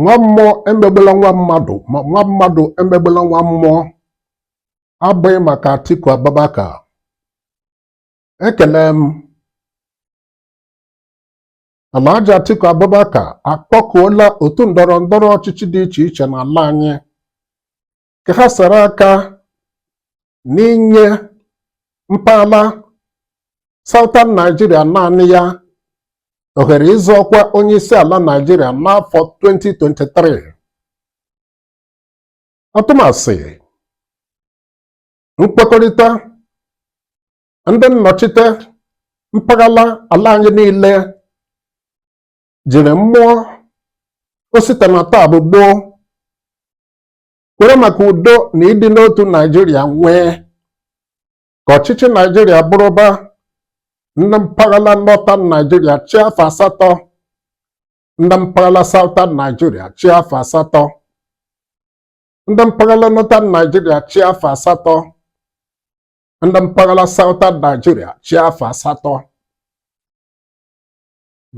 nwa mmụọ emegbela nwa mmadụ ma nwa mmadụ emegbela nwa mmụọ abụghị maka Atiku Abubakar ekele m Alhaji Atiku Abubakar akpọkuola otu ndọrọ ndọrọ ọchịchị dị iche iche n'ala anyị ka ha sara aka n'inye mpaghara Southern Nigeria naanị ya ohere ịzọ ọkwa onye isi ala Nigeria n'afọ 2023 atụmasị nkwekọrịta ndị nnọchite mpaghara ala anyị niile jiri mmụọ osita na taa bụ gboo kwere maka udo na ịdị n'otu naijiria nwee ka ọchịchị naijiria bụrụba ndị mpaghara northern naijiria chịa afọ asatọ ndị mpaghara southern naijiria chịa afọ asatọ ndị mpaghara northern naijiria chịa afọ asatọ ndị mpaghara Southern Nigeria chịa afọ asatọ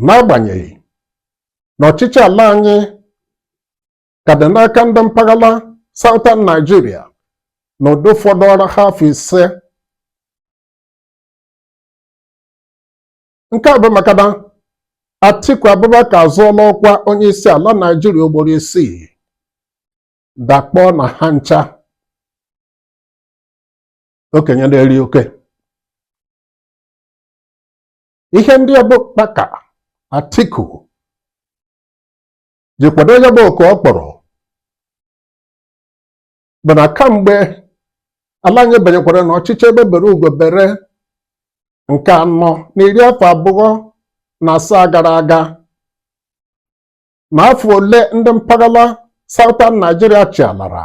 n'agbanyeghị na ọchịchị ala anyị ka dị n'aka ndị mpaghara Southern Nigeria na ụdị ọ fọdụụrụ ha afọ ise nke a bụ maka na Atiku Abubakar azọọla ọkwa onye isi ala Naijiria ugboro isii dakpọọ na ha ncha okenye na-eri oke ihe ndị ọbụ kpaka Atiku ji kwado ya bụ oku ọ kpọrọ bụ na kamgbe ala anyị banyekwara na ọchịchị egbe bere ugo bere nke anọ na iri afọ abụọ na asaa gara aga na afọ ole ndị mpaghara Southern Nigeria chịalara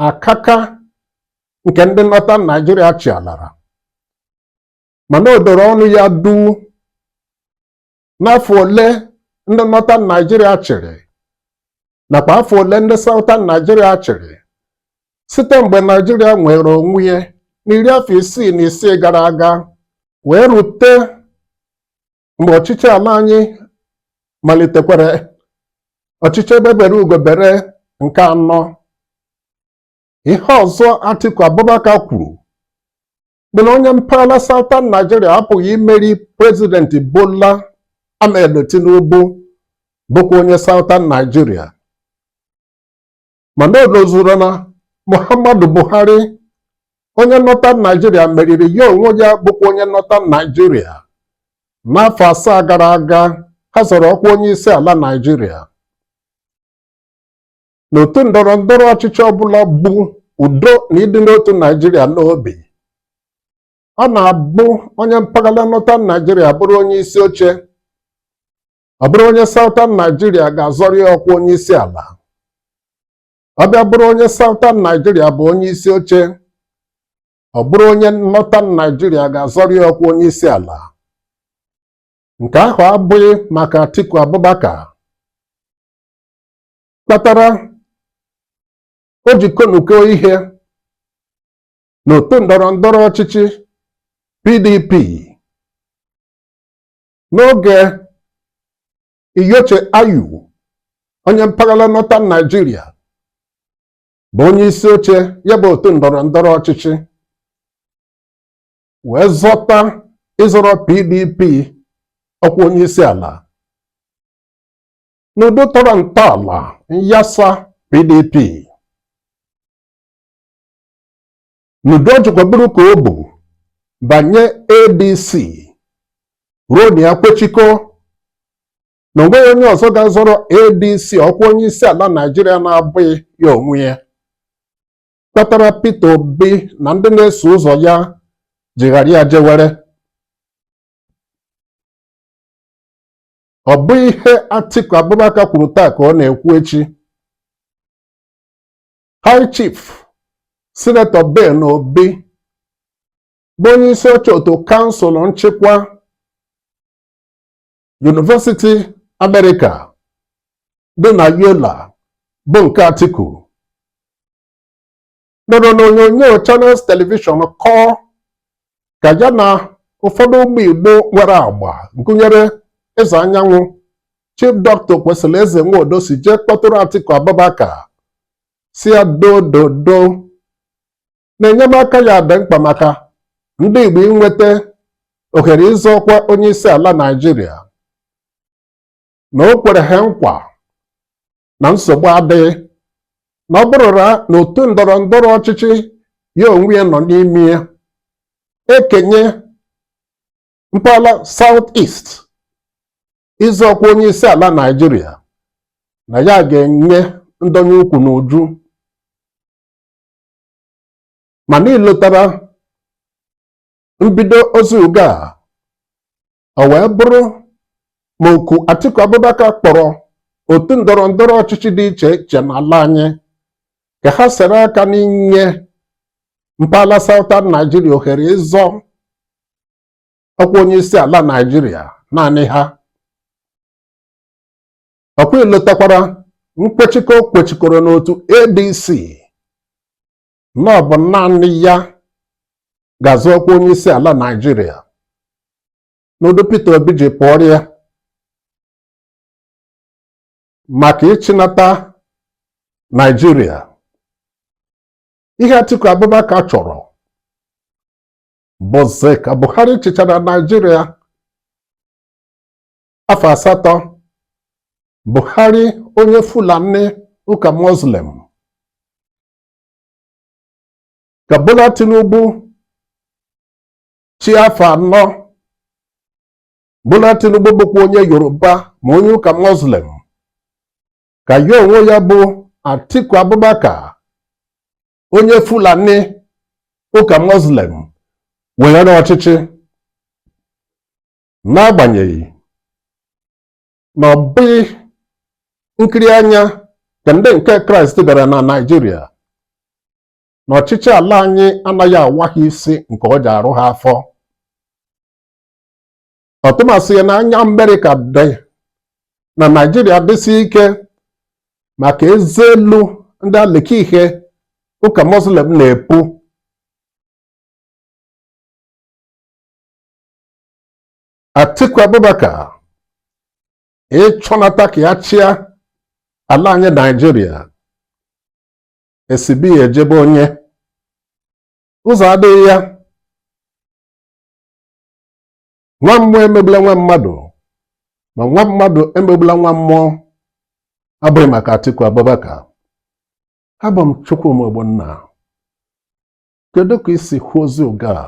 akaka nke ndị Northern Nigeria chịalara mana o doro ọnụ ya duu n'afọ ole ndị Northern Nigeria chịrị nakwa afọ ole ndị Southern Nigeria chịrị site mgbe Nigeria nwere onwe ya n'iri afọ isii na isii gara aga wee rute mgbe ọchịchị ala anyị malitekwara ọchịchị egbe bere ugo bere nke anọ ihe ọzọ Atiku Abubakar kwuru bụ na onye mpaghara Southern Nigeria apụghị imeri prezidenti Bola Ahmed Tinubu bụkwa onye Southern Nigeria mana o lozuru na Muhammadu Buhari onye Northern Nigeria meriri ya onwe ya bụkwa onye Northern Nigeria n'afọ asaa gara aga ha zọrọ ọkwa onye isi ala Naijiria n'otu ndọrọ ndọrọ ọchịchị ọbụla bu udo na ịdị n'otu Naijiria n'obi ọ na-abụ onye mpaghara Northern Nigeria bụrụ onye isi oche ọ bụrụ onye Southern Nigeria ga-azọrọ ya ọkwa onye isi ala ọ bịa bụrụ onye Southern Nigeria bụ onye isi oche ọ bụrụ onye Northern Nigeria ga-azọrọ ya ọkwa onye isi ala nke ahụ abụghị maka Atiku Abubakar kpatara o ji konuko ihe n'otu ndọrọ ndọrọ ọchịchị PDP n'oge Iyorchia Ayu onye mpaghara Northern Nigeria bụ onye isi oche ya bụ otu ndọrọ ndọrọ ọchịchị wee zọta ịzọrọ PDP ọkwa onye isi ala n'ụdị tọrọ ntọala nyasa PDP n'ụdị o jikwa buru ka o bu banye ADC ruo na ya kwechikọ na onweghị onye ọzọ ga-azọrọ ADC ọkwa onye isi ala Naijiria na-abụghị ya onwe ya kpatara Peter Obi na ndị na-eso ụzọ ya ji ghara ya jewere ọ bụ ihe Atiku Abubakar kwuru taa ka ọ na-ekwu echi High Chief Sinetọ Ben Obi bụ onye isi oche otu kansụl nchịkwa Yunivesiti Amerịka dị na Yola bụ nke Atiku nọrọ n'onyonyo Channels Television kọọ ka ya na ụfọdụ ụmụ Igbo nwere agba gụnyere Eze Anyanwụ Chief Dr. Okwesilieze Nwodo si jee kpọtụrụ Atiku Abubakar sị ya dododo na enyemaka ya dị mkpa maka ndị Igbo inweta ohere ịzọ ọkwa onye isi ala Naịjirịa na o kwere ha nkwa na nsogbu adịghị na ọ bụrụra na otu ndọrọ ndọrọ ọchịchị ya onwe ya nọ n'ime ya ekenye mpaghara South East ịzọ ọkwa onye isi ala Naịjirịa na ya ga-enye ndọnye ukwu n'uju mana i lotara mbido ozi ugo a o wee bụrụ ma oku Atiku Abubakar kpọrọ otu ndọrọ ndọrọ ọchịchị dị iche iche n'ala anyị ka ha sere aka n'inye mpaghara Southern Nigeria ohere ịzọ ọkwa onye isi ala Nigeria naanị ha ọkwa i lotakwara nkwechikọ o kwechikọrọ n'otu ADC na ọ bụ naanị ya ga-azọ ọkwa onye isi ala Naịjirịa n'ụdị Peter Obi ji pụọrọ ya maka ịchịnata Naịjirịa ihe Atiku Abubakar chọrọ bụzi ka Buhari chịchara Naịjirịa afọ asatọ Buhari onye Fulani ụka Muslim ka Bola Tinubu chịa afọ anọ Bola Tinubu bụkwa onye Yoruba ma onye ụka Muslim ka ya onwe ya bụ Atiku Abubakar onye Fulani ụka Muslim weghara ọchịchị n'agbanyeghị na ọ bụghị nkiri anya ka ndị nke kraịst bịara na naijiria na ọchịchị ala anyị anaghị awa ha isi nke ọ ji arụ ha afọ ọtụmasị ya na anya amerịka dị na naijiria dịsị ike maka eze elu ndị alịka ihe ụka muslim na-epu Atiku Abubakar ịchọnata ka ya chịa ala anyị Naijiria e si be ya eje be onye ụzọ adịghị ya nwa mmụọ emegbula nwa mmadụ ma nwa mmadụ emegbula nwa mmụọ abụghị maka Atiku Abubakar abụ m Chukwuma Ogbonna kedu ka i si hụ ozi ụga a